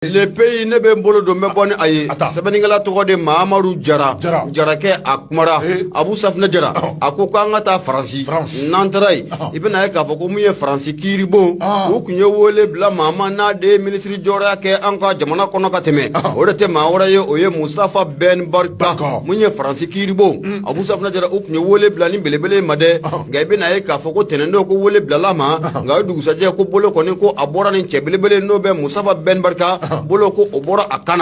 le pays ne bɛ n bolo don n bɛ bɔ ni a ye sɛbɛnnikɛla tɔgɔ de mamadu jara jarakɛ a kumara abu safunɛ jara a ko ko an ka taa faransi n'an taara yen i bɛna ye k'a fɔ ko min ye faransi kiiribon u tun ye wele bila maa ma n'a de ye minisiri jɔyɔrɔya kɛ an ka jamana kɔnɔ ka tɛmɛ o de tɛ maa wɛrɛ ye o ye mustafa bɛn barika mun ye faransi kiiribon abu safunɛ jara u tun ye wele bila nin belebele ma dɛ nka i bɛna ye k'a fɔ ko tɛnɛndon ko wele bilala a ma nka o dugusajɛ ko bolo kɔni ko a bɔra nin cɛ belebele n'o bɛ mustafa bɛn barika bolo ko o bɔra a kan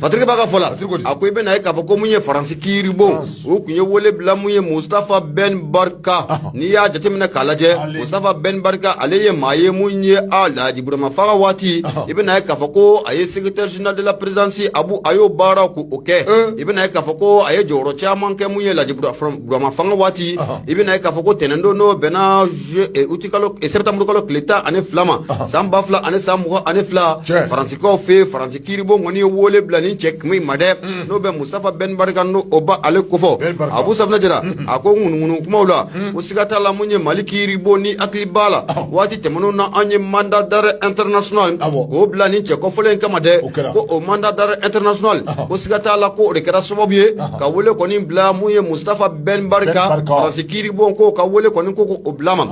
fatigi b'a ka fɔ la a ko i bɛna ye k'a fɔ ko mun ye faransi kiiribon u tun ye wele bila mun ye mustafa bɛn barika n'i y'a jateminɛ k'a lajɛ mustafa bɛn barika ale ye maa ye mun ye alaji burama fanga waati i bɛna ye k'a fɔ ko a ye secrétaire général de la présidence abu a y'o baara ko o kɛ i bɛna ye k'a fɔ ko a ye jɔyɔrɔ caman kɛ mun ye laji burama fanga waati i bɛna ye k'a fɔ ko tɛnɛndon n'o bɛnna utikalo septembre kalo tile tan ani fila ma san ba fila ani san mugan ani fila faransikaw fɛ yen faransi kiiribon kɔni ye wele bila nin cɛ in ma dɛ mm. n'o bɛ mustafa bɛn barika n'o bɛ ale kofɔ abu safinɛ jara mm-hmm. a ko ŋunuŋunu kumaw la mm. ko siga t'a la mun ye mali kiiribon n'i hakili b'a la waati tɛmɛnenw na an ye mandat d'arrêt international k'o bila nin cɛ kofɔlen in kama dɛ ko o mandat d'arrêt international ko siga t'a la ko o de kɛra sababu ye ka wele kɔni bila mun ye mustafa Ben Barka Faransi kiiribon ko ka wele kɔni k'o bila a ma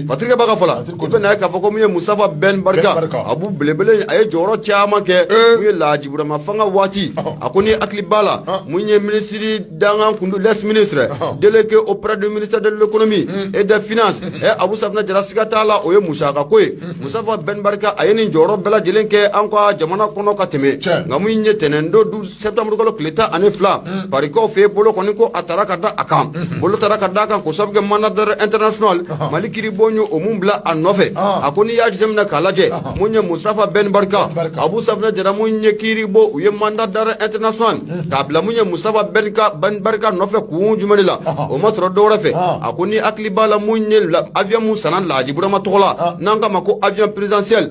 Fatirikɛba ka fɔ la i bɛna ye k'a fɔ ko min ye Mustafa Ben Barka Abu belebele a ye jɔyɔrɔ caman kɛ mun ye Lahaji Burama fanga waati a ko n'i hakili b'a la mun ye minisiri dankan tun don le ministre délégué auprès du ministère de l'économie et des finances ɛ Abu Safinɛ Jara siga t'a la o ye Musa ka ko ye Mustafa Ben Barka a ye nin jɔyɔrɔ bɛɛ lajɛlen kɛ an ka jamana kɔnɔ ka tɛmɛ nka mun ye tɛnɛndon septembre kalo tile tan ani fila parikaw fɛ bolo kɔni ko a taara ka da a kan bolo taara ka da a kan ko sabu kɛ mandat d'arrêt international mali kiiribon ye o mun bila a nɔfɛ a ko n'i y'a jateminɛ k'a lajɛ mun ye mustafa bɛn barika abu safinɛ jara mun ye kiiribon u ye mandat d'arrêt international k'a bila mun ye mustafa bɛn barika nɔfɛ kun jumɛn de la o ma sɔrɔ dɔwɛrɛ fɛ a ko n'i hakili b'a la mun ye avion mun sanna lahaji burama tɔgɔ la n'an k'a ma ko avion présidentiel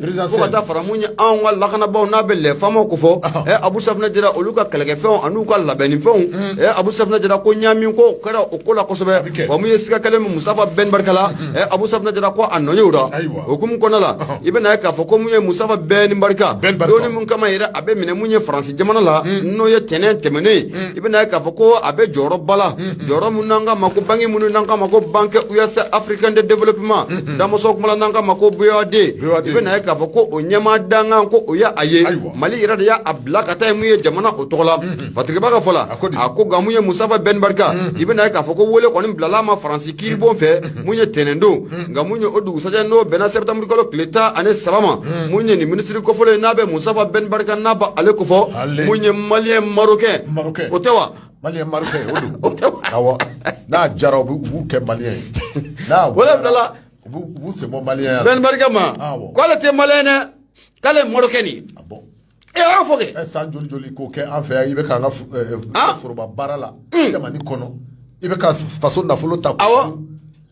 Ka fara mun ye anw ka lakanabaaw n'a bɛ les FAMa kofɔ abu safinɛ jara olu ka kɛlɛkɛfɛnw ani u ka labɛnnifɛnw abu safinɛ jara ko ɲami ko kɛra o ko la kosɛbɛ mun ye siga kɛlen mustafa bɛn barika la abu safinɛ jara ko a nɔ yera o ko kɔnɔ la i bɛna ye k'a fɔ ko mun ye mustafa bɛn barika don min kama yɛrɛ a bɛ minɛ min ye faransi jamana la n'o ye tɛnɛn tɛmɛnen i bɛna ye k'a fɔ ko a bɛ jɔyɔrɔba la jɔyɔrɔ min n'an k'a ma ko banki min n'an k'a ma ko banque ouest africaine de développement damuso kuma n' ka ma ko boad i bɛ n'a ye k'a fɔ ko o ɲɛmaa dankan ko o y' a ye mali yɛrɛ de y'a bila ka taa mun ye jamana o tɔgɔ la fatirikɛba ka fɔ la a ko nka mun ye musafa bɛn barika i bɛ n'a ye k'a fɔ ko weele kɔni bilala ma faransi kiiribon fɛ mun ye tɛnɛndon nka mun ye o dugusɛjɛ n'o bɛnna sɛtanburukalo tile tan ani saba ma mun ye nin minisiri kofɔlen n'a bɛ musafa bɛn barika n'a b'ale kofɔ mun ye malien marocain o tɛ wa malien marocain o don awɔ n'a diyara u b'u kɛ malien ye n'a wala bilala u b'u sen bɔ mali ye bɛn barika ma k'ale tɛ malien ye dɛ k'ale ye marocain de ye e y'a fɔ kɛ san joli joli k'o kɛ an fɛ yan i bɛ k'an ka foroba baara la jamana kɔnɔ i bɛ ka faso nafolo ta awɔ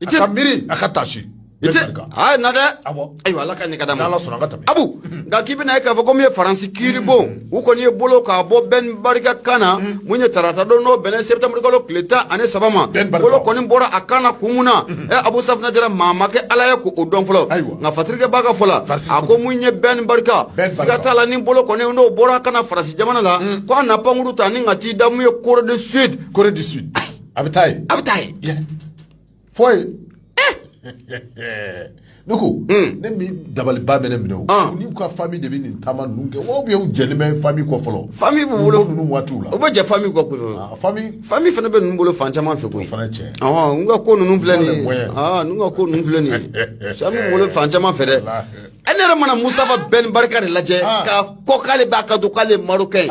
I tɛ miiri a ka taa si i tɛ aa na dɛ ayiwa ala ka nin ka da ma abu nka k'i bɛ n'a ye k'a fɔ ko mun ye faransi kiiribon u kɔni ye bolo k'a bɔ bɛn barika kan na mun ye tarata don n'o bɛnna sɛtanburukalo tile tan ani saba ma bolo kɔni bɔra a kan na kun mun na ɛ abu safunɛ jara maa ma kɛ ala ye k'o dɔn fɔlɔ nka fatirikɛba ka fɔ la a ko mun ye bɛn barika siga t'a la ni bolo kɔni n'o bɔra a kan na faransi jamana la ko a na pankuru ta ni ka t'i da mun ye corée du sud corée du sud a bɛ taa ye a bɛ taa ye Foi. ne ko ne dabaliba bɛ ne minɛ o ah. n'u ka fa de bɛ nin taama ninnu kɛ wa bɛ jɛnɛ bɛ fa kɔ fɔlɔ fa bɛ wolo ninnu waati la o bɛ jɛ fa kɔ ah, fa fana bɛ ninnu bolo fan caman fɛ ko fana cɛ n ka ko ninnu filɛ nin ye ah, n ka ko ninnu filɛ nin ye sa bolo fan caman fɛ dɛ e ne yɛrɛ mana musafa bɛn barika de lajɛ ka ko k'ale b'a ka don k'ale marocain ye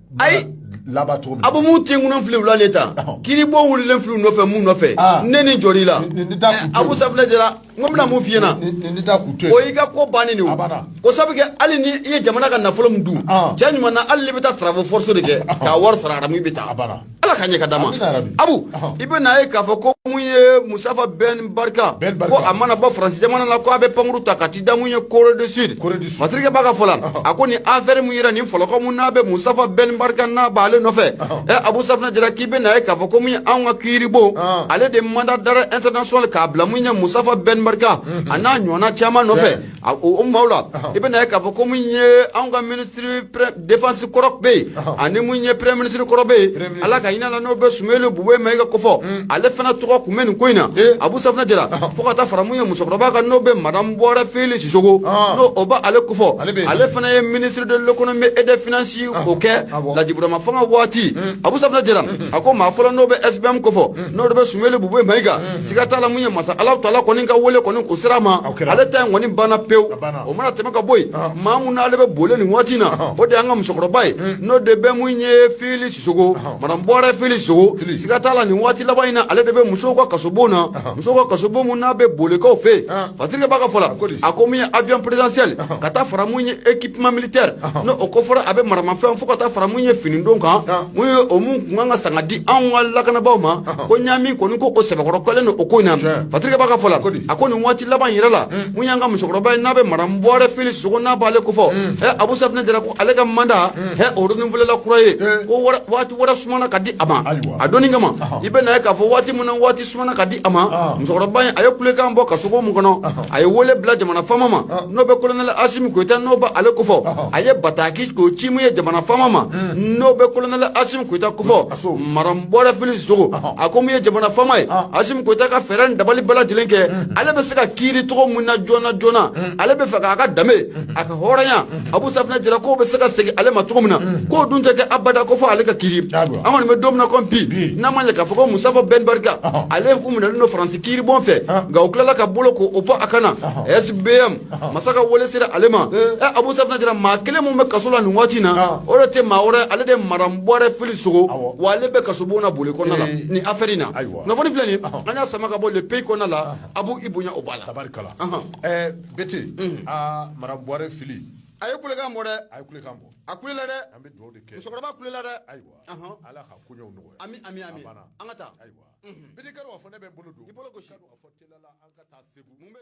ayi laban cogo min abu mun tin kunun fili wula le ta kiiribon wulilen fili nɔfɛ mun nɔfɛ ne ni jɔli la abu safunɛ jara n ko bɛna min f'i ɲɛna o y'i ka ko bannen de o ko sabu kɛ hali ni i ye jamana ka nafolo min dun cɛ ɲuman na hali n'i bɛ taa travaux forcés de kɛ k'a wari sara aramu i bɛ taa ala ka ɲɛ ka da ma abu i bɛ n'a ye k'a fɔ ko mun ye musafa bɛn barika ko a mana bɔ faransi jamana la ko a bɛ pankuru ta ka t'i da mun ye corée du sud fatirikɛba ka fɔ la a ko nin afɛri mun yera nin fɔlɔkɔ mun n'a bɛ musafa bɛn barika n'a b'ale nɔfɛ ɛ abu safunɛ jara k'i bɛ n'a ye k'a fɔ ko mun ye anw ka kiiribon ale de mandat d'arrêt international k'a bila mun ye musafa bɛn barika a n'a ɲɔgɔnna caman nɔfɛ A o maaw la i bɛ n'a ye k'a fɔ ko mun ye anw ka ministre défense kɔrɔ bɛ yen ani mun ye premier ministre kɔrɔ bɛ yen ala ka hinɛ a na n'o bɛ sumeyilu bubɛyi mayiga kofɔ ale fana tɔgɔ tun bɛ nin ko in na abu safunɛ jara fo ka taa fara mun ye musokɔrɔba kan n'o bɛ madamu buware fili sisoko n'o o bɛ ale kofɔ ale fana ye ministre de l'économie et des finances ko kɛ laji burama fanga waati abu safunɛ jara a ko maa fɔlɔ n'o bɛ sbm kofɔ n'o de bɛ sumeyilu bubɛyi mayiga siga t'a la mun ye masa ala ta la kɔni ka weele kɔni o sera a ma ale ta in kɔni banna pewu o mana tɛmɛ ka bɔ yen maa min n'ale bɛ bole nin waati in na o de y'an ka musokɔrɔba ye n'o de bɛ mun ye fili sisoko madamu buwarɛ fili sisoko siga t'a la nin waati laban in na ale de bɛ musow ka kasobon na musow ka kasobo min n'a bɛ bole kɛrɛ fɛ fatigi b'a ka fɔ la a ko mun ye avion présidentiel ka taa fara mun ye équipement militaire n'o kofɔra a bɛ maramafɛn fɔ ka taa fara mun ye fini don kan Mun ye o mun tun kan ka san ka di anw ka lakanabaaw ma, ɔnhɔn, ko ɲami kɔni ko o sɛbɛkɔrɔ kɛlen don o ko in na, tiɲɛ, Fadɛkɛ b'a ka fɔ la, a ko di, a ko nin waati laban in yɛrɛ la, un, mun y'an ka musokɔrɔba ye n'o bɛ Madamu Buwarɛ Fili Sisoko n'a b'ale kofɔ, un, ɛ Abu Safinɛ Jara ko ale ka mandat, un, ɛ o renouveler la kura ye, ee, ko wɛrɛ waati wɛrɛ sumana ka di a ma, ayiwa, a donni kama, ɔnhɔn, i bɛ n'a ye k'a fɔ waati min na waati sumana ka di a ma ɔnhɔn, musokɔrɔba in a ye kulekan bɔ kasobon kɔnɔ Ɔnhɔn. a ye wele bila jamana faama ma Ɔnhɔn. n'o bɛ kolonɛli asimi koyita n'o bɛ ale kofɔ Ɔnhɔn. a ye bataki k'o ci mun ye jamana faama ma n'o bɛ kolonɛli asimi koyita kofɔ A so. madamu buwarɛ fili sisoko Ɔnhɔn. a ko mun ye jamana faama ye Ɔnhɔn. asimi koyita ka fɛɛrɛ ni dabali bɛɛ lajɛlen kɛ ale bɛ se ka kiiri cogo mun na joona joona ale bɛ fɛ k'a ka danbe a ka hɔrɔnya abu safinɛ jara ko bɛ se ka segin ale ma cogo min na k'o dun tɛ kɛ abada ko fo ale ka kiiri an kɔni b'a dɔn ko bi n'a ma k'a fɔ ko musitafa bɛn barika ale tun minɛlen don faransi kiiribon fɛ nka u tilala ka bolo ko o bɔ a kan na SBM masa ka wele sera ale ma abu safinɛ jara maa kelen min bɛ kaso la nin waati in na o de tɛ maa wɛrɛ ale de madamu buwarɛ fili sisoko wa ale bɛ kaso bon na bole kɔnɔna la nin afɛri in na kunnafoni filɛ nin an y'a sama ka bɔ le pays kɔnɔna la abu i bonya o b'a la bete aa madamu buwarɛ fili a ye kulekan bɔ dɛ a ye kulekan bɔ a kulela dɛ an bɛ dugawu de kɛ musokɔrɔba kulela dɛ ayiwa ala ka koɲɛw nɔgɔya ami ami ami an ka taa ayiwa bete kari fɔ ne bɛ bolo don i bolo gosi an ka taa segu mun bɛ